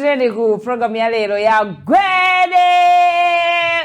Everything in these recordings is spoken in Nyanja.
Tilinso ku programu ya lero ya gwede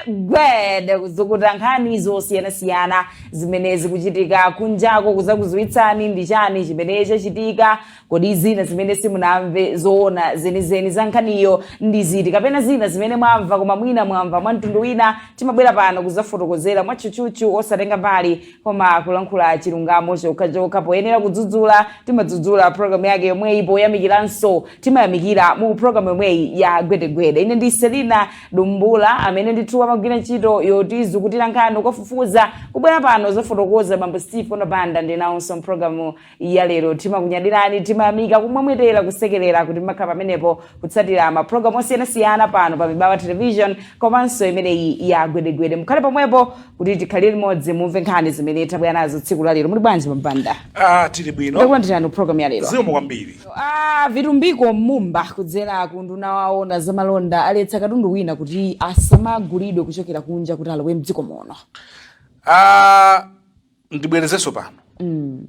gwede kuzukuta nkhani zosiyanasiyana zimene zikuchitika kunjako kuzakuziwitsani ndi chani chimene chachitika kodi zina zimene simunamve zoona zenizeni za nkhaniyo ndi ziti kapena zina zimene mwamva koma mwina mwamva mwa mtundu wina timabwera pano kuzafotokozera mwatchutchutchu osatenga mbali Koma kulankhula chilungamo chokhachokha poyenera kudzudzula timadzudzula program yake yomweyi poyamikiranso timayamikira mu program yomweyi ya gwedegwede ine ndi selina dumbula amene ndithu amagwira ntchito yotizukutira nkhani kukafufuza kubwera pano kuzafotokoza bambo steve kona banda ndili nawonso mpulogalamu ya lero timakunyadirani timayamika kumwemwetera kusekerera kuti makhala pamenepo kutsatira mapulogalamu osiyanasiyana pano pa mibawa television komanso imeneyi ya gwedegwede mukhale pomwepo kuti tikhalire limodzi mumve nkhani zimene tabwera nazo tsiku la lero muli bwanji a banda ah tili bwino takulandirani pulogalamu ya lero zikomo kwambiri Ah, vitumbiko mumba kudzera ku unduna woona zamalonda aletsa katundu wina kuti asamagulidwe kuchokera kunja kuti alowe mdziko muno ah ndibwerezenso pano mm.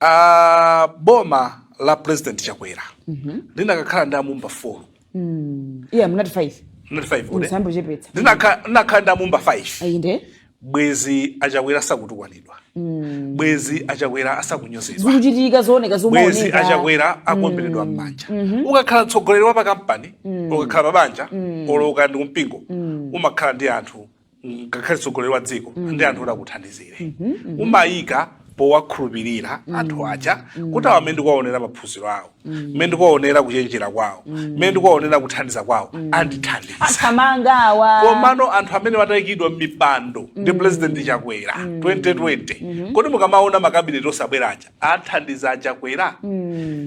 uh, boma la president chakwera mm -hmm. linakakhala ndi amumba folo mm. yeah, mnati 5 mnati 5 linakakhala ndi amumba 5 ayinde bwezi achakwera asakutukwanidwa mm. bwezi achakwera asakunyozedwa zikuchitika zooneka bwezi achakwera mm. akuomberedwa mmanja mm. mm-hmm. ukakhala mtsogoleri wa pakampani mm. ukakhala pabanja mm. olo kaya ndi kumpingo mm. umakhala ndi anthu ngakhale tsogoleri wa dziko mm. ndi anthu oti akuthandizire mm -hmm, mm -hmm. umayika powakhulupirira mm. anthu aja mm. kuti awa mmene ndikuwaonera maphunziro awo mmene mm. ndikuwaonera kuchenjera kwawo mmene ndikuwaonera kuthandiza kwawo andithandiza athamanga awa komano anthu amene aikidwa m'mipando ndi pulezidenti chakwera 2020 mm-hmm. kodi mukamaona makabineti onse abwera aja athandiza achakwera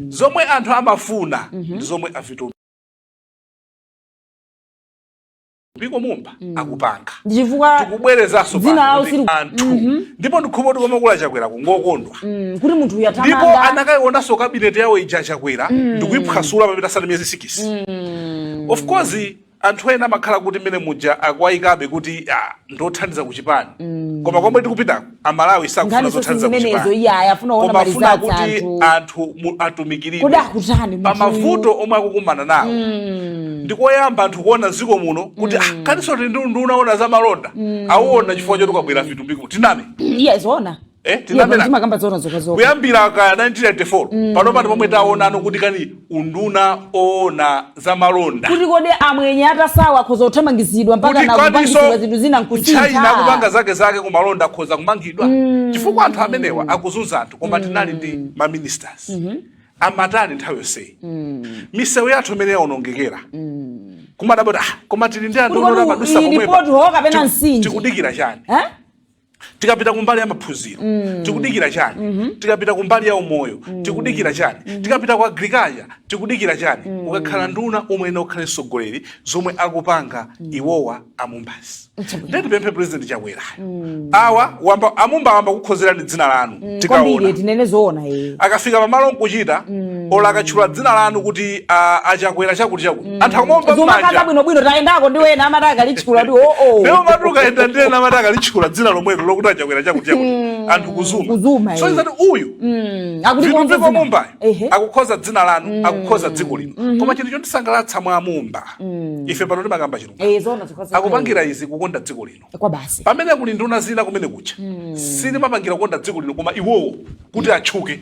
zomwe anthu amafuna mm-hmm. ndi zomwe avitu mbiko mumba mm. akupanga chifukwa tikubwerezaso dzina lawo sili anthu mm -hmm. ndipo ndikhulupira kuti koma kuli achakwera kungokondwa mm. kuti munthu uyu athamanga ndipo anakayionanso kabineti yawo ija achakwera mm. ndikuiphwasula pamene isanapite miyezi sikisi mm. of course anthu ena amakhala kuti mmene muja akuwayikabe kuti ah, andithandiza kuchipani mm. koma komwe tikupitako amalawi sakufuna Nkhani zothandiza sisi zimenezo, kuchipani iye aya, afuna kuona koma mali afuna za kuti anthu. anthu mu- atumikiridwe Kodi akutani pa munthuyu? mavuto omwe akukumana nawo ndikoyamba anthu kuona mziko muno kuti ah, kaninso kuli unduna woona za malonda awuona chifukwa choti kwabwera vitumbiko tiname iye zoona Eh, Iye tinamenji. pano timakamba zoona zokha zokha kuyambira ka 1994 pano pano pomwe taonano kuti kani unduna woona za malonda kuti kodi amwenye atasowa akhoza kuthamangizidwa mpaka kuti nakupangitsidwa kwaniso zinthu zina china nkusintha kupanga zake zake kumalonda akhoza kumangidwa chifukwa anthu amenewa akuzunza anthu koma tinali ndi ma ministers amatani nthawi yonseyi misewu yathu imene yaonongekera kuma roundabout ah, koma tili ndi anthu Kuti kodi oona madusa iyi pomwepa. report ho kapena Tiku- nsanje? tikudikira chani Eh? tikapita kumbali ya maphunziro mm. tikudikira chani mm -hmm. tikapita kumbali ya umoyo mm. tikudikira chani mm -hmm. tikapita ku agriculture tikudikira chani mm -hmm. ukakhala nduna umayenera ukhale mtsogoleri zomwe akupanga mm. iwowa a Mumba si nde tipemphe president Chakwerayo mm. awa wamba, a Mumba ayamba kukukonzerani dzina lanu mm, tikaona tinene zoona eh akafika pa malo nkuchita mm. olo akatchula dzina lanu kuti uh, a Chakwera chakuti chakuti mm. anthu akumaomba manja zuma kaka bwino bwino tayendako ndi ena amati akalitchula ndi oh oh leo matuka enda ndi ena amati akalitchula dzina lomwelo lokuti a Chakwera chakuti chakuti mm. anthu kuzuma kuzuma eh. so izati uyu mm. akuti kwa mviko Mumba akukonza dzina lanu mm. akukonza dziko lino mm -hmm. koma chinthu chondisangalatsa mwa a Mumba mm. ife pano timakamba chilungamo eh, akupangira izi kukonda dziko lino kwawo basi pamene kuli nduna zina kumenekuja mm. sizimapangira kukonda dziko lino koma iwowo kuti atchuke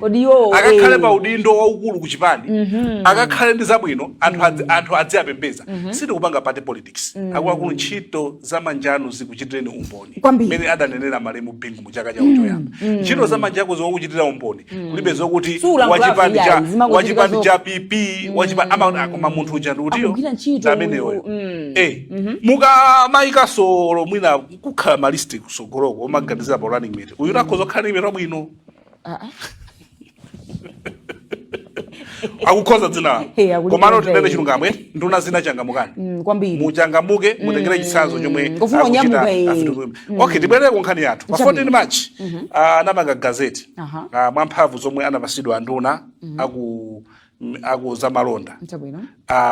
akakhale eh. pa udindo waukulu ku chipani mm -hmm. akakhale ndi zabwino anthu mm. adzi, anthu adziwapembedza mm -hmm. sitikupanga party politics mm. akuluakulu ntchito za manja anu zikuchitireni umboni kwambiri mene adanenera malemu Bingu mu chaka chako choyamba ntchito za manja ako zikuchitira umboni kulibe zokuti Sulankhulapo wachipani cha iyayi, zimangochitika wachipani zo- cha pp wachipani ama akoma munthu uja ndi uti uyo Akugwira ntchito ndi ameneyo uyu, mm. eh mukamayika so olo mwina kukhala malisti kusogoloko omaganizira pa running mate uyu akhoza kukhala ndi kuyimira bwino akukonza dzinalo Hey, akulikonza komano tinene iye. chilungamo eti nduna zina changamukani Mm, kwambiri muchangamuke mutengere chitsanzo chomwe Ngofunika akuchita kunyamuka, eh. afitu- okay tibwerere ku nkhani yathu pa Chabwino. 14 march ah, anapanga gazeti Aha. ah, mwa mphamvu zomwe anapatsidwa anduna aku m- a ku zamalonda Chabwino. uh,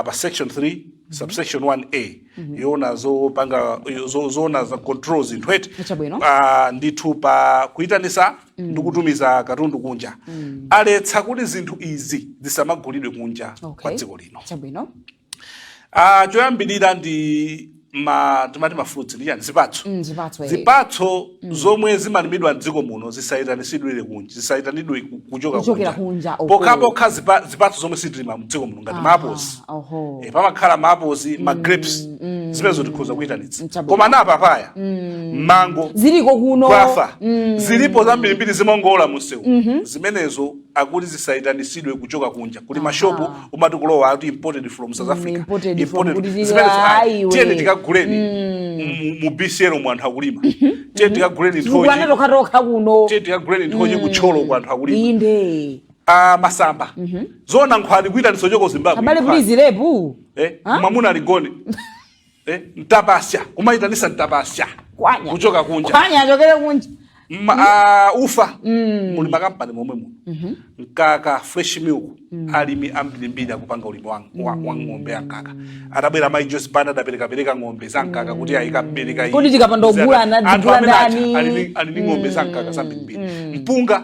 pa section 3 subsection 1a yoona zopanga yo- zo- zoona za control zinthu eti Chabwino. uh, ndithu pa kuyitanitsa ndi kutumiza katundu kunja aletsa kuti zinthu izi zisamagulidwe kunja Okay. kwa dziko lino Chabwino. Ah, choyambirira ndi ma timati mafruits ndi chani zipatso Mm, zipatso, eh. zipatso zomwe zimalimidwa mdziko muno zisayitanitsidwe kunja zisayitanidwe ku- kuchoka Kuchokera kunja, okay. pokhapokha zipa- zipatso zomwe sitilima mdziko muno ngati maapozi oho. Eh, pamakhala maapozi ma grapes zimenezo tikhoza kuyitanitsa Chabwino. koma ma papaya mango ziliko kuno kwathu zilipo zambirimbiri zimangowola mumsewu zimenezo akuti zisayitanitsidwe kuchoka kunja kuli mashopu Aha. umati kulowa ati imported from south Mm, africa imported from Imported- kuti zili- zimenezo, ah, ah, iwe. tiyeni tikaguleni mu- mu bcl mu anthu akulima tiyeni tikaguleni nthochi zikwana tokhatokha kuno tiyeni tikaguleni nthochi ku thyolo ku anthu akulima inde Ah, masamba zona nkhwani kuitanitsa chochoka ku zimbabwe abale nkhwani. please lepu Eh, Ah? mwamuna aligone eh, mtapasya kumayitanitsa mtapasya Kwanya. kuchoka kunja kwanya achokere kunja Ma, ah, ufa muli makampani momwe muno mkaka fresh milk alimi ambirimbiri akupanga ulimi wa, wa, wa ng'ombe ya mkaka atabwera mayi joyce banda adaperekapereka ng'ombe za mkaka kuti azikabereka Kodi tikapanda kugula ana- anthu tigula amene aja ndani? ali ndi- ali ndi ng'ombe za mkaka zambirimbiri mpunga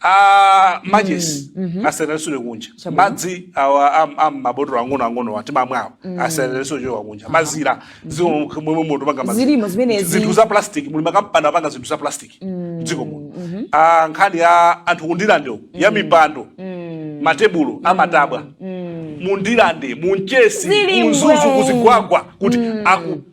a matches mm, mm-hmm. asayitanitsidwe kunja madzi awa am'mabotolo ang'ono ang'onowa timamwawo mm. asayitanitsidwe kuchoka kunja mazira mm-hmm. dziko momwe muno tipanga mazira zinthu za plastic muli makampani apanga zinthu za plastic mm. dziko muno mm-hmm. ah, nkhani ya anthu ku ndirandewo ya mm. mipando matebulo amatabwa mu ndirande mu mchesi mu mzuzu ku zigwagwa kuti aku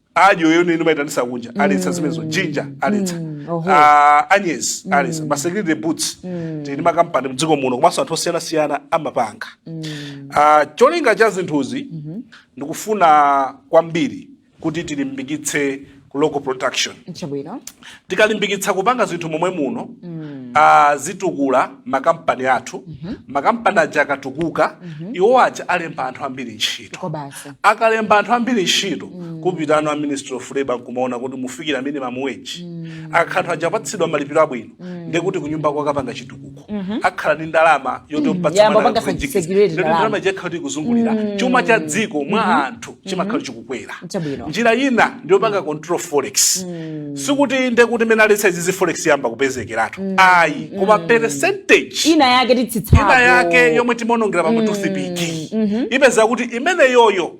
adyo yomwe timaitanitsa kunja aletsa zimenezo jinja aletsa oho. Ah, anyezi aletsa masecurity boots tili ndi makampani mdziko muno komanso anthu osiyanasiyana amapanga Ah, cholinga cha zinthuzi ndikufuna kwambiri kuti tilimbikitse ku local production chabwino tikalimbikitsa kupanga zinthu momwe muno mm. uh, zitukula makampani athu mm -hmm. makampani aja akatukuka mm -hmm. iwo aja alemba anthu ambiri ntchito akalemba anthu ambiri ntchito mm. kupita nawo a ministry of labor nkumaona kuti mufikira minimum wage mm. akakhala anthu aja apatsidwa malipiro abwino mm. ndekuti kunyumba kwawo akapanga chitukuko mhm. akhala ndi ndalama yoti mm. ndalama zija zakhala zikuzungulira mm. chuma cha dziko mwa mm-hmm. anthu mm-hmm. chimakhala chikukwera njira ina ndiyopanga mm. control forex sikuti ndekuti mene aletsa izizi forex yamba kupezekeratu ayi koma percentage ina yake itsitsako ina yake yomwe timaonongera pa ma toothpick mm-hmm. ipeza kuti imeneyoyo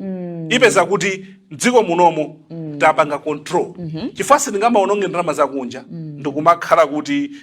ipeza kuti mdziko munomo tapanga control chifukwa sindingamaononge ndalama zakunja ndikumakhala kuti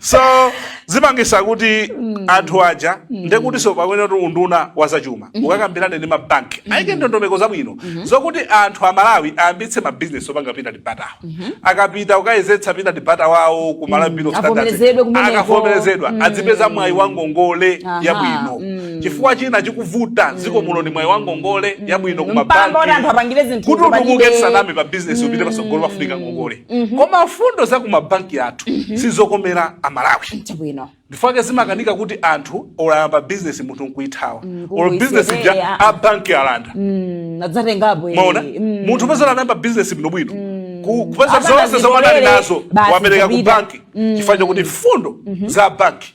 so zipangitsa kuti mm. anthu aja mm. ndekutinso payenera kuti unduna wa zachuma mm-hmm. ukakambirane ndi mabanki mm-hmm. ayike ndondomeko zabwino mm-hmm. zokuti anthu a malawi ayambitse mabizinesi opanga peanut butter akapita kukayezetsa peanut butter wawo ku malawi bureau akavomerezedwa adzipeza mwayi wa ngongole yabwino chifukwa china chikuvuta dziko muno ndi mwayi wa ngongole yabwino ku mabanki kuti utukuke tisaname pa bizinesi upite patsogolo pafunika ngongole Mhm. koma mfundo za kumabanki athu mhm. sizokomera amalawi ndi chifukwa chake zimakanika kuti anthu olo ayamba bizinesi munthu nkuithawa mm, or bizinesi ja eh, ah, ah. a banki alanda mm, eh. mwaona mm. munthu upeza anayamba bizinesi bwinobwino kupeza zonse zomwe anali nazo wapereka ku banki chifukwa chakuti mfundo mhm. za banki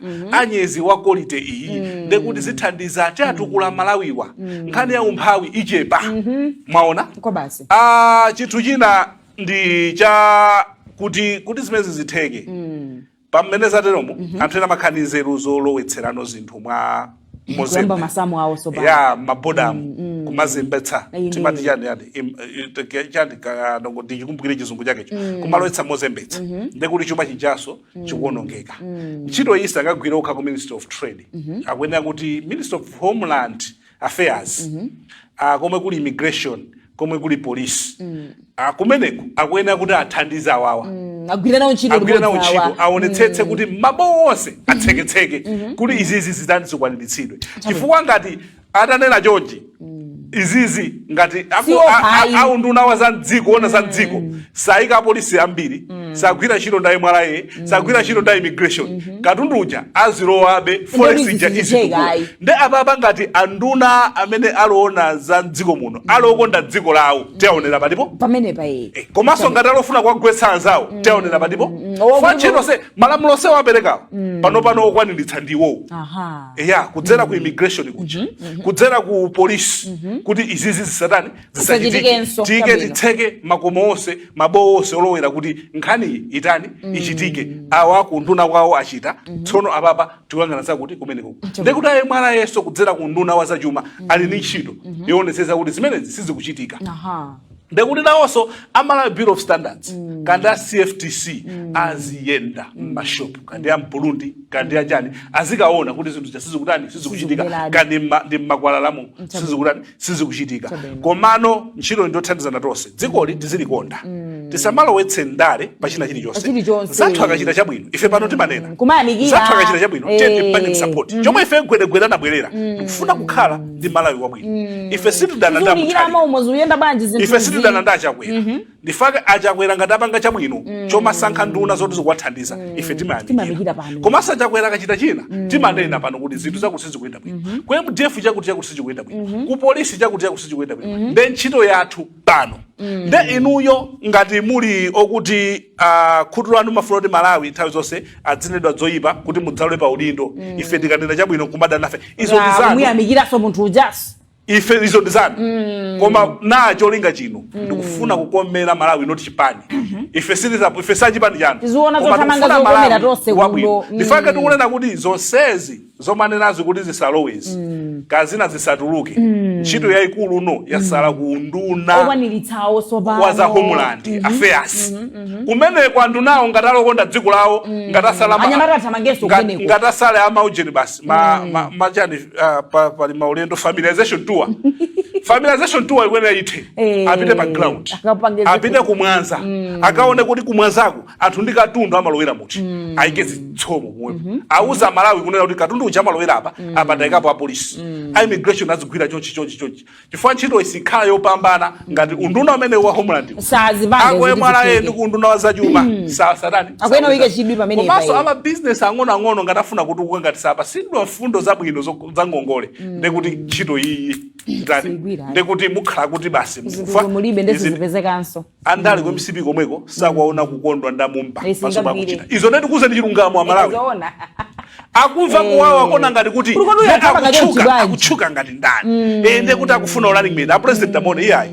Mhm. anyezi wa quality iyi mm. ndekuti zithandiza kuti atukula mm. amalawiwa mm. nkhani ya umphawi ichepa mm -hmm. mwaona ah, chinthu china ndi cha kuti kuti zimenezi zitheke mm. pamene zateromo mm -hmm. anthu ena amakhala ndi nzeru zolowetserano zinthu mwa kuyamba mozembe masamu awo awa a m'mabodamu Mm, mm. kumazembetsa Ayi, timati ndiyo. chani yani im- i- te- chani ka- nongo ndichikumbukire chizungu chakecho kumalowetsa mozembetsa ndekuti chuma chijanso chikuonongeka ntchito iyi sangagwire okha ku ministry of trade akuyenera kuti ministry of homeland affairs ah, komwe kuli immigration komwe kuli polisi kumeneko akuyenera kuti athandize awawa Mm, agwire nawo ntchito agwire nawo limodzi awa. ntchito aonetsetse kuti mabowo onse atseketseke kuti izizi zitani zikwaniritsidwe chifukwa ngati atenera chonchi izizi ngati ako- Siwo a- a- pai. aunduna wa za mdziko oona za mdziko sayika apolisi ambiri sagwira ntchito ndaye mwalaye sagwira ntchito nda immigration katundu uja azilowabe forex ija bizinesi isitukuka cheka, ayi. nde apapa ngati anduna amene alowona za mdziko muno alokonda dziko lawo tiaonera palipo pamenepa aye Eh, komanso ngati alofuna kuwagwetsa anzawo tiaonera palipo Owa- chifukwa malamulo onse aperekawo panopano okwaniritsa ndi iwowo aha eya kudzera ku immigration kuja kudzera ku polisi kuti izizi zisatani Zisachitikenso, tiyike chabwino. titseke makomo onse mabowo onse olowera kuti nkhaniyi itani ichitike awa ku unduna kwawo achita tsono apapa tikuyang'ana zakuti kumeneko ndekuti a mwanamvekhanso kudzera ku unduna wa zachuma ali ndi ntchito yoonetsetsa kuti zimenezi sizikuchitika aha ndekuti nawonso amalawi bureau of standards kaya ndi a cftc aziyenda m'mashopu kaya ndi a mburundi kaya ndi achani azikaona kuti zinthu zija sizikutani sizikuchitika Sizikubeladi. kaya ndi mma- ndi mmakwalalamu sizikutani sizikuchitika komano ntchito ndiyothandizana tonse dzikoli tizilikonda mm. tisamalowetse ndale pa china chilichonse mzathu akachita chabwino ife pano mm. timanena mzathu akachita chabwino eh. tiye tipange support mm. chomwe ife gwedegwede anabwerera tikufuna kukhala ndi malawi wabwino ife sitidana ndi a ife sitidana ndi a chakwera mm-hmm. ndi chifukwa chake achakwera ngati apanga chabwino chomasankha nduna zoti zikuwathandiza ife Timayamikira timayamikira pano. komanso achakwera akachita china timanena pano kuti zinthu zakuti sizikuyenda bwino ku mdf chakuti chakuti sichikuyenda bwino ku polisi chakuti chakuti sichikuyenda bwino nde ntchito yathu pano nde inuyo ngati muli okuti ah, khutu lanu mumafuna kuti malawi nthawi zonse adzinenedwa zoyipa kuti mudzalowe pa udindo ife tikanena chabwino kumadana nafe izo ndi zanu muyamikiranso munthu ujaso ife izo ndi zanu mm. koma ndi cholinga chino mm. ndikufuna kukomera malawi not chipani mm -hmm. ife silizapo ife sachipani chanu wabwino mm. ndichifukwa chake tikunena kuti zonsezi zomanenazi kuti zisalowezi mm. kaya zina zisatuluke mm. ntchito mm. yayikulu uno yasala mm. kuunduna wa za homeland mm -hmm. affairs mm -hmm. mm -hmm. kumene kwandunawo ngati ali okonda dziko lawo mm. ngati asala ngati asale amaujeni basi machani mm. ma, ma, ma, Ah, pa- pali maulendo familiarization tour familiarization tour ikuyenera ithe Eh, apite pa ground akapange zinthu. apite kumwanza akaone kuti kumwanzako anthu ndi katundu amalowera muti ayike zitsomo komweko auze amalawi kunena kuti katundu uja amalowera apa apa tayikapo apolisi a immigration azigwira chonchi chonchi chonchi chifukwa ntchitoyi sikhala yopambana ngati unduna umene wa homeland akuyenera ndi kuunduna wa zachuma hmm. sasatanikomanso amabizinesi ang'onoang'ono ngati afuna kutukuka ngati sapatsidwa mfundo zabwino za ngongole hmm. ndekuti ntchito iyi ndekuti mukhala kuti basi andale ku mcp komweko sakuwaona kukondwa ndamumba Yes, paso ngabire. pakuchita izo nde ndikuuzeni chilungamo amalawi zoona akumva kuwawa kona ngati akuti Kuli kwanu nde yakamba ngati akutchuka- mchibwanji. akutchuka ngati ndani Eh, nde kuti akufuna u running mate apresident amuone iyayi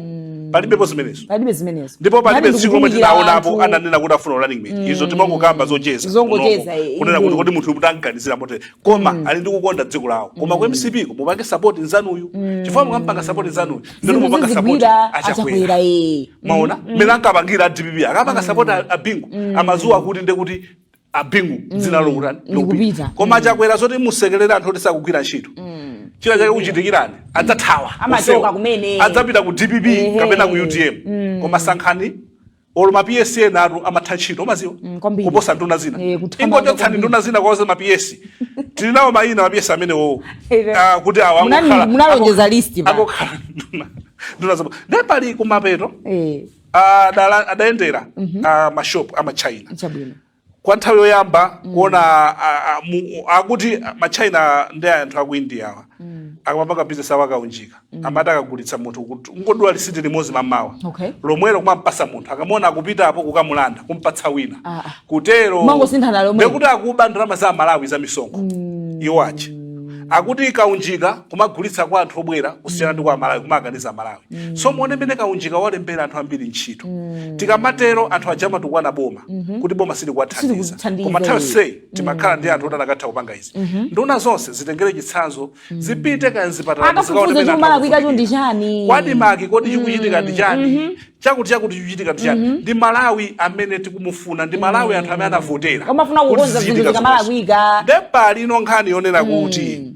palibepo zimenezo palibe zimenezo ndipo palibe Nani tsiku lomwe ndikukumbukira tinaonapo anthu- ananena kuti afuna u running mate izo timangokamba zocheza Zongocheza, kunomo. eh, kunena kuti inde. kodi munthu uyu tamuganizira motere koma ali ndi kukonda dziko lawo koma ku mcp ko mupange sapoti nzanuyu chifukwa mukampanga sapoti nzanuyu Zinthu nde mukupanga support zizigwira achakwera achakwera ee mumaona mmene ankapangira adpp akapanga support a- abingu amadziwa kuti nde kuti abingu dzina lawo likutani Likupita. koma achakwera zoti musekerere anthu oti sakugwira ntchito china chake chikuchitikirani adzathawa Amachoka onsewa. kumene. adzapita ku dpp Ehe. kapena ku utm koma sankhani Olo ma PS enatu amatha ntchito omaziwa Mm, kwambiri. kuposa nduna zina. Eh, kuthamanga Ingochotsani kwambiri. nduna zina kawuzeni ma PS. Tili nawo mayina ma PS amenewo. Ere. Ah, kuti awa Munani- angokhala- munalonjeza ango- list pa. Angokhala nduna. Nduna zabho. Ndiye pali kumapeto Eh, adala- adayendera ah, mashop ama China. chabwino. kwa nthawi yoyamba mm. kuona akuti ma China ndi anthu aku India awa mm. akamapanga business awo akaunjika mm. amati akagulitsa munthu kuti ungodula lisiti limodzi mamawa okay. lomwelo kumampasa munthu akamona akupita apo kukamulanda kumpatsa wina ah. ah. kutero ndekuti akuba ndalama za aMalawi za misonkho mm. iwo aja akuti kaunjika kumagulitsa kwa anthu obwera kusiyana ndi kwa aMalawi kumakaniza aMalawi mm. so muone mmene kaunjika walembera anthu ambiri ntchito mm. tikamatero anthu aja amatukwana boma mm -hmm. kuti boma silikuwathandiza koma nthawi yonseyi mm. timakhala mm. ndi anthu oti akanatha kupanga izi mm -hmm. nduna zonse zitengere chitsanzo mm. zipite kaya mzipatala ku ADMARC kodi chikuchitika ndi chani mm -hmm chakuti chakuti chikuchitika ndi chani mm -hmm. ndi malawi amene tikumufuna ndi malawi mm -hmm. anthu amene anavotera amafuna kukonza zinthu zikamalakwika ndepali ino nkhani yonena mm -hmm. kuti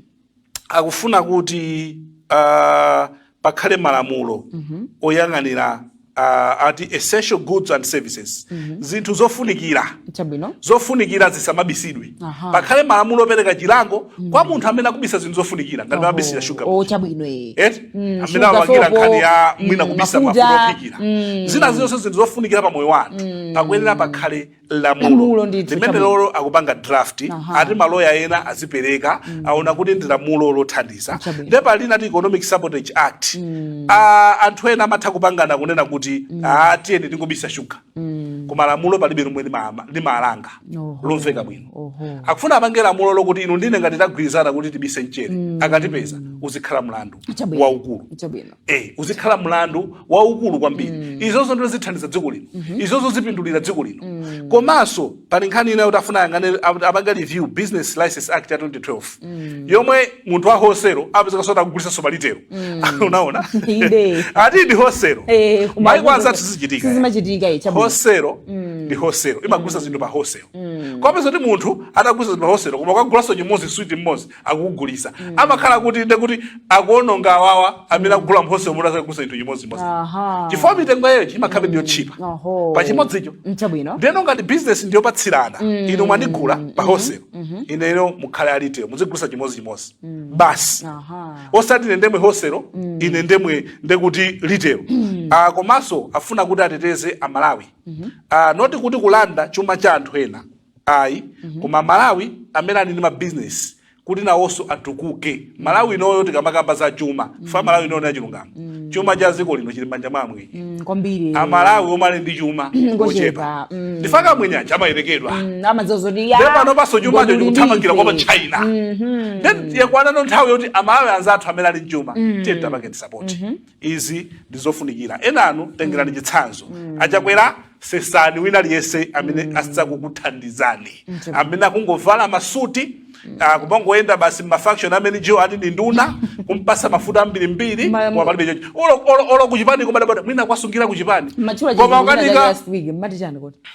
akufuna kuti uh, pakhale malamulo mm -hmm. oyang'anira uh, ati essential goods and services mm -hmm. zinthu zofunikira Chabino. zofunikira zisamabisidwe pakhale malamulo opereka chilango mm -hmm. kwa munthu amene akubisa zinthu zofunikira ngati mabisira shuga oh, chabwino eh. et mm, amene awagira nkhani ya mm, mwina mm, kubisa mafuta ophikira mm. zina zonse zinthu zofunikira pa moyo wa anthu mm. pakuyenera pakhale lamulo Lamulo ndithu, limene chabwino. lolo akupanga draft Aha. ati maloya ena azipereka aona kuti ndi lamulo lothandiza Chabwino. nde pali ati economic sabotage act Ah, anthu ena amatha kupangana kunena kuti ah, tiyeni tingobisa shuga koma lamulo palibe lomwe lima- limalanga Oho. lomveka bwino Oho. akufuna apange lamulo lokuti inu ndi ine ngati tagwirizana kuti tibise mchere akatipeza uzikhala mlandu Chabwino. waukulu Chabwino. Eh, uzikhala mlandu waukulu kwambiri mm. izozo ndo zithandiza dziko lino mm -hmm. izozo zipindulira dziko lino mm. komanso pali nkhani ina yoti afuna ayang'ane apange review business license act ya 2012 mm. yomwe munthu wa hoselo apezekaso akugulisaso pa litelo mm. umaona ati ndi hoselo hey, eh, maiko anzathu sizichitika hoselo mm. ndi hoselo imagulisa mm. zinthu pa hoselo mm. ukapeza kuti munthu akugulisa zinthu pa hoselo koma ukagulaso chimodzi switi imodzi akugulisa mm. amakhala kuti nde kuti akuononga awawa amene mm. akugula m'hoselo omwe akugulisa chinthu chimodzimodzi chifukwa mitengo yayo imakhalabe ndi yotchipa pa chimodzicho ndeno ngati bizinesi ndiyopatsirana mm. inu mwandigula mm-hmm. pa hoselo mm-hmm. ineno mukhale a litelo muzigulisa chimodzichimodzi mm. basi osati ine ndemwe hoselo mm. ine ndemwe ndekuti litelo mm. ah, komanso afuna kuti ateteze amalawi mm-hmm. ah, not kuti kulanda chuma cha anthu ena ayi koma amalawi amene ali ndi mabizinesi kuti nawonso atukuke malawi inoyo tikamakamba za chuma cha malawi inoyo na chilungamo chuma cha dziko lino chili m'manja mwa amwenye Mm, kwambiri amalawi omwe ali ndi chuma Ngochepa, ochepa mm. ndi chifukwa amwenye aja amayerekedwa Mm, amadziwa zoti ya, nde panopaso chumacho ngoti chikuthamangira kwa ulibe. China nde yakwana no nthawi yoti amalawi anzathu amene ali ndi chuma tiyeni tiwapange support izi ndizofunikira enanu tengerani mm. chitsanzo mm. achakwera sesani wina aliyense amene mm. sakukuthandizani mm. amene akungovala masuti mm. ah, kumangoyenda basi ma function amene ujo ati ndi nduna kumpasa mafuta ambirimbiri koma palibe chocho olo olo olo kuchipani koma ndadabwa mwina kwasungira kuchipani koma ukanika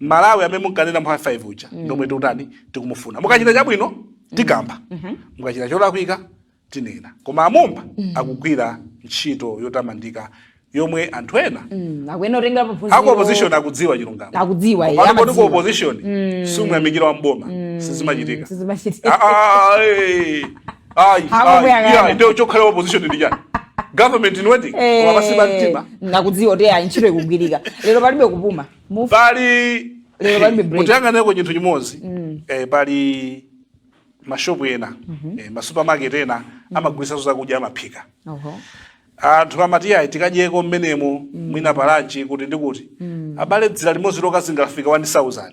malawi amene munkanena m'ma 5 uja mm. ndomwe tikutani tikumufuna mukachita chabwino mm. tikamba mm-hmm. mukachita cholakwika tinena koma amumba mm. akugwira ntchito yotamandika yomwe anthu ena mm, aku opposition akudziwa chilungamo akudziwa koti ku opposition sumayamikira wa m'boma sizimachitika ndiwe chokhala opposition ndi chani government in waiting koma eh, pansi pa mtima akudziwa kuti ayi ntchito ikugwirika lero palibe kupuma Move. pali Lero palibe break. mutiyang'aneko chinthu chimodzi eh, pali mashopu ena eh, masupermarket ena amagulitsanso zakudya amaphika Oho. anthu amati ayi tikadyeko mmenemo mwina palanchi kuti ndi kuti abale dzira limodzi lokha zingafika 1000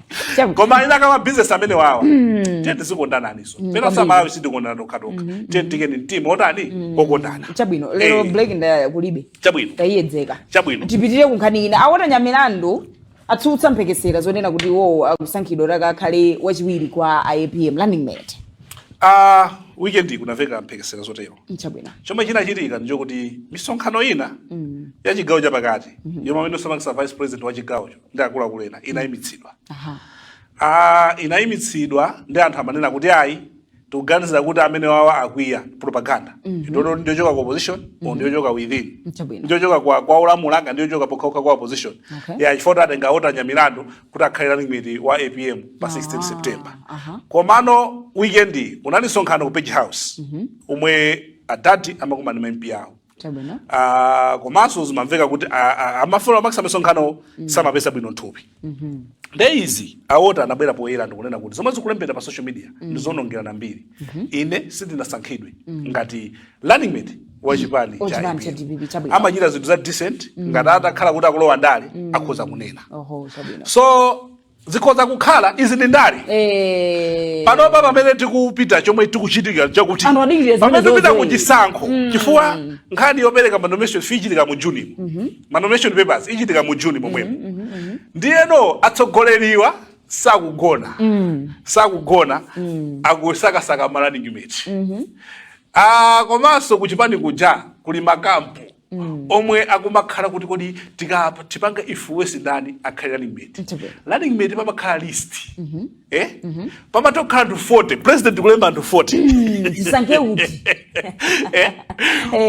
koma ina kama business amene wawa mm. tiye tizikondananiso mm, pena amalawi sitikondana tokhatokha mm, tiye tiikeni mtima otani okondana chabwino lero eh. break ndiye kulibe chabwino tayiyedzeka chabwino tipitire kunkhani ina a walter nyamilandu atsutsa mphekesera zonena kuti iwowo akusankhidwa kuti akakhale wachiwiri kwa apm running mate uh, weekend kunamveka mphekesera zotero chabwino chomwe chinachitika ndichokuti misonkhano ina mm. ya chigawo chapakati mm -hmm. yomwe amene osamangisa vice president wa chigawocho ndi akuluakulu ena inayimitsidwa Aha. Ah, inayimitsidwa ndi anthu amanena kuti ayi tikuganizira kuti amene wawa akwiya propaganda iyo ndiyochoka ku opposition or ndiyochoka within Chabwino. ndiyochoka kwa kwa olamula anga ndiyochoka pokhapokha kwa opposition Okay. ya chifukwa atenga walter nyamilandu kuti akhale running mate wa apm pa 16 september aha. komano weekend unali msonkhano ku page house omwe adadi amakumana ndi ma mp awo chabwino Ah, komanso zimamveka kuti a- a- amafuna amakisa misonkhano samapeza bwino mthupi nde izi a walter anabwera poyera ndikunena kuti zomwe zikulembedwa pa social media ndi zoonongerana mbiri ine sindinasankhidwe ngati running mate wa chipani Wa cha chipani cha APM. DPP, chabwino. amachita zinthu za decent ngati atakhala kuti akulowa ndale akhoza kunena oho chabwino so zikhoza kukhala izi ndi ndale eh. panopa pamene tikupita chomwe chikuchitika chakuti pamene tikupita ku chisankho mm. chifukwa nkhani yopereka manomination fee ichitika mu juni mm -hmm. manomination papers ichitika mu juni momwemo mm -hmm. mm -hmm. ndiyeno atsogoleriwa sakugona mm. sakugona mm. akusakasaka ma running mate mm -hmm. ah, komanso kuchipani kuja kuli makampu mm. omwe akumakhala kuti kodi tipanga influence ndani akhale running mate running mate pamakhala list mm -hmm. eh? mm -hmm. pamatokhala anthu 40 president kulemba anthu 40 ndisankhe mm, uti eh? eh?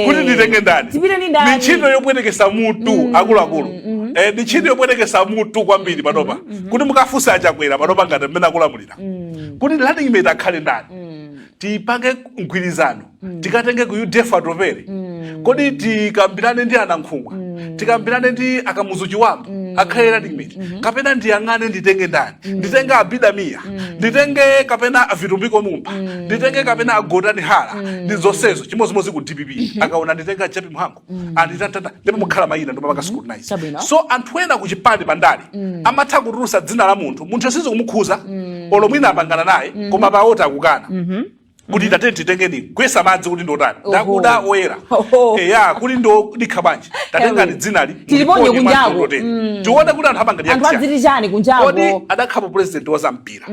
kuti nditenge ndani ni ntchito yopwetekesa mutu mm, akuluakulu mm, mm. mm. eh, ni ntchito yopwetekesa mutu kwambiri panopa mm -hmm. kuti mukafunsa achakwera panopa ngati mmene akulamulira mm. kuti running mate akhale ndani mm. tipange mgwirizano mm. tikatenge ku udf atupele mm. kodi tikambirane ndi anankhumwa mm. tikambirane ndi akamuzu chibambo mm. akhale running mate mm -hmm. kapena ndiyang'ane nditenge ndani mm. nditenge abida mia mm. nditenge kapena vitumbiko mumba mm. nditenge kapena agotani hara mm. ndi zonsezo chimodzimodzi ku dpp mm -hmm. akaona nditenga jappie mhango mm. anditatata ndi pamakhala mayina ndipo amapanga scrutinize mm. so anthu ena ku chipani pandale mm. amatha kutulusa dzina la munthu munthuyo sizikumukhudza mm. olo mwina apangana naye mm -hmm. koma pa walter akukana mm -hmm. kuti tatene titengeni kuyesa madzi kuti ndotani Oho. ndakuda oyera Oho. eya kuti ndodikha bwanji tatengani dzinali Tiliponye muliponye kunjaku. madzi ndoteni. tione kuti anthu amangani anthu akusiyana. adziti chani kodi kunjako atakhalapo president wa zampira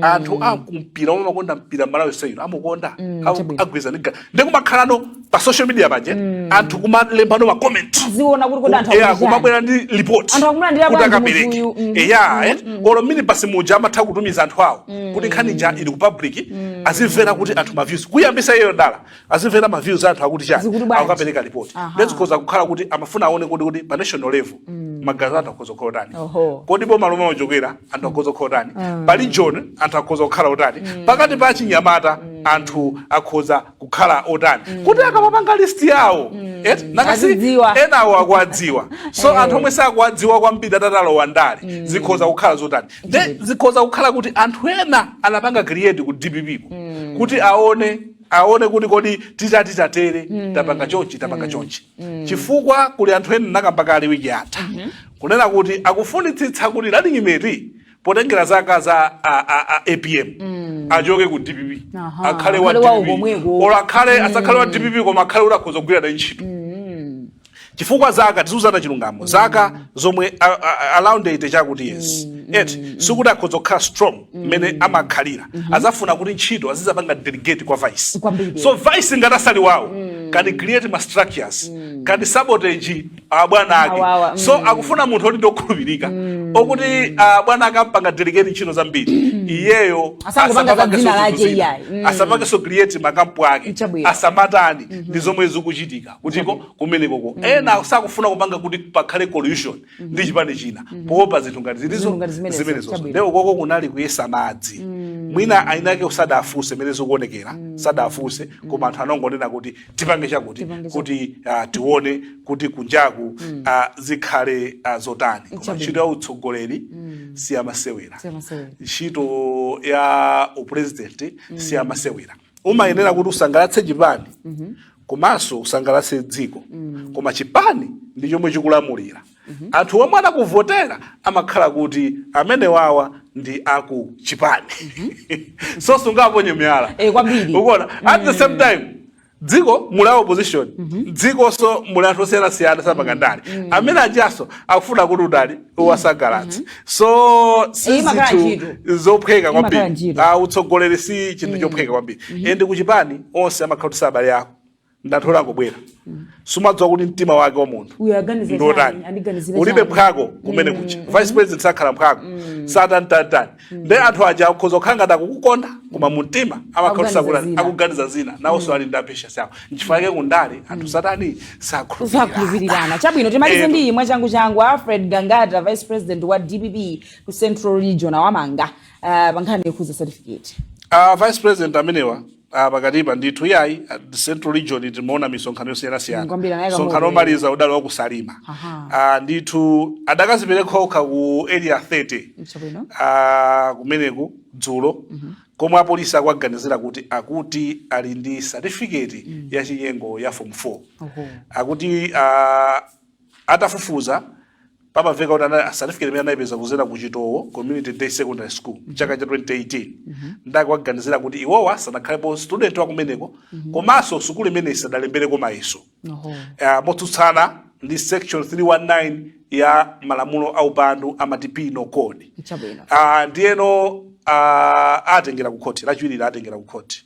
anthu akumpira omwe amakonda mpira malawi si inu amukonda Amu- chabwino. agwirizana ndi ga- ndikumakhalano pa social media paje mm. anthu kumalembano ma comment ziona kuti kodi anthu akubwera yeah, kumabwera ndi report anthu akumulandira kuti akapereke mm. Mm-hmm. Eh, yeah mm. eh? mm. Mm-hmm. olo mini pasi muja amatha kutumiza anthu awo mm. kuti nkhani ija ili ku public mm. azimvera kuti anthu ma views kuyambitsa iyo dala azimvera ma views anthu akuti chani akapereka report nde zikhoza kukhala kuti amafuna aone kuti kuti pa national level mm. maganizo a anthu akhoza kukhala otani kodi boma lomwe a Chakwera anthu akhoza kukhala otani mm. pali john anthu akhoza kukhala otani mm. pakati pa achinyamata mm. anthu akhoza kukhala otani mm. kuti akamapanga list yawo mm. eti nanga si enawo akuwadziwa so hey. Eh. anthu omwe sakuwadziwa kwambiri atatalowa ndale mm. zikhoza kukhala zotani nde zikhoza kukhala kuti anthu ena anapanga create ku dpp ku mm. kuti aone aone kuti kodi titati tatere mm. tapanga chonchi tapanga mm. chonchi mm. chifukwa kuli anthu ena nakamba kale wiki yatha mm -hmm. kunena kuti akufunitsitsa kuti running mate potengera zaka za a, a, a apm mm. achoke ku dpp akhale wa dpp olo akhale mm. asakhale wa dpp koma akhale kuti akhoza kugwira naye ntchito mm. chifukwa zaka tiziuzana chilungamo mm. zaka zomwe around eighty chakuti yes mm. eti mm. sikuti akhoza kukhala strong mmene mm. amakhalira mm -hmm. adzafuna kuti ntchito azidzapanga delegate kwa vice so vice ngati asali wawo mm. can create ma structures mm. can sabotage abwana ake Awawa, so mm. akufuna munthu oti ndokhulupirika okuti abwana ake akampanga delegate ntchito zambiri iyeyo Asangopanga za dzina lake zinthu zina. iyayi. Mm. asapangenso create makampu ake Chabwino. asamatani ndizo zomwe zikuchitika kutiko kumenekoko ena sakufuna kupanga kuti pakhale coalition ndi chipani china poopa zinthu ngati Zinthu zilizo ngati zimenezo. zimenezo Chabwino. nde ukoko kunali kuyesa madzi mwina eni ake sadafunse mene zikuonekera sadafunse koma anthu anangonena kuti tipange chakuti Tipange kuti ah, tione kuti kunjaku ah, zikhale ah, zotani koma Chabwino. ntchito ya utsogoleri si yamasewera Siyamasewera. ntchito ya upresident si yamasewera umayenera kuti usangalatse chipani komanso usangalatse dziko koma chipani ndi chomwe chikulamulira anthu omwe anakuvotera amakhala kuti amenewawa ndi aku chipani so sungaponye miyala Eh, kwambiri. ukuona at the same time dziko muli a opposition dzikonso muli anthu osiyanasiyana sapanga ndale amene ajanso akufuna kuti utani uwasangalatse so si Imakhala zinthu ntchito. zophweka Imakhala kwambiri ntchito. Ah, utsogoleri si chinthu chophweka kwambiri ende kuchipani onse amakhala kuti si abale ako ndanthu angobwera sumadziwa kuti mtima wake wa munthu Uyu aganiza ndi wotani. chani, andiganizira ulibe chani. mphwako kumene kuja vice president sakhala mphwako satantatani nde anthu aja akhoza kukhala ngati akukukonda koma mumtima Akuganiza amakhala zina. akuganiza zina nawonso ali ndi apeshasi awo nchifukwa yake kundale anthu satani sakhulupirira sakhulupirirana chabwino timalize Eh, ndi iyi mwachangu changu alfred gangata vice president wa dpp ku central region awamanga uh, pa nkhani yokhuza certificate uh, vice president amenewa ah, pakatipa ndithu iyayi ah, central region timaona misonkhano Mm, yosiyanasiyana kwambiri anayika msonkhano moto. omaliza udali wakusalima Aha. Ah, ndithu adakazipereka okha ku area 30 Tsopano. ah, kumeneku dzulo komwe apolisi akuwaganizira kuti akuti ali ndi certificate ya chinyengo ya form 4 Oho. akuti ah, Atafufuza, pamamveka kuti ana- certificate imene anayipeza kuzera ku Chitowo Community Day Secondary School chaka cha 2018 nde akuwaganizira kuti iwowa sanakhalepo student wa kumeneko komanso sukulu imeneyi sadalembereko mayeso Oho. uh, motsutsana ndi section 319 ya malamulo a upandu amati penal code Chabwino. uh, ndiyeno uh, atengera ku khoti lachiwiri atengera ku khoti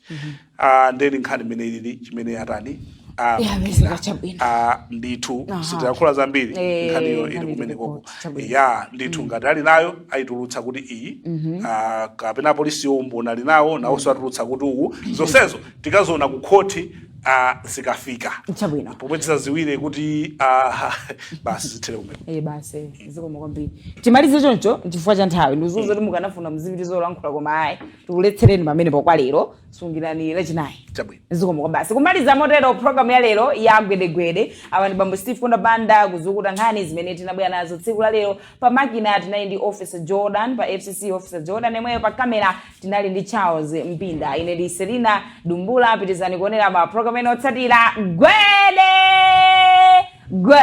Ah, nde ndi nkhani mmene ilili chimene atani ah, Yeah, Mukira. mizika chabwino. Ah, ndithu Aha. sitiyankhula zambiri Eh, nkhaniyo ili nkhani kumene koko ilipoti, chabwino. ya ndithu ngati ali nayo ayitulutsa kuti iyi ah, kapena apolisi umboni ali nawo nawonso atulutsa kuti uwu zonsezo tikaziona ku khoti ah, zikafika Chabwino. pomwe tizaziwire kuti ah, basi zithere kumene Eh, basi zikomo kwambiri timalize choncho chifukwa cha nthawi ndikuziwa kuti mukanafuna mzipitiza kulankhula koma ayi tikuletsereni pamenepo kwa lero sungirani lachinayi chabwino zikomo kwabasi kumaliza motero programu ya lero ya gwedegwede awa ndi bambo steve kunda banda kuzukuta nkhani zimene tinabwera nazo tsiku la lero pa makina tinali ndi officer jordan pa fcc officer jordan yemweyo pa kamera tinali ndi charles mpinda ine ndi selina dumbula pitizani kuonera ma programu ena otsatira gwede gwe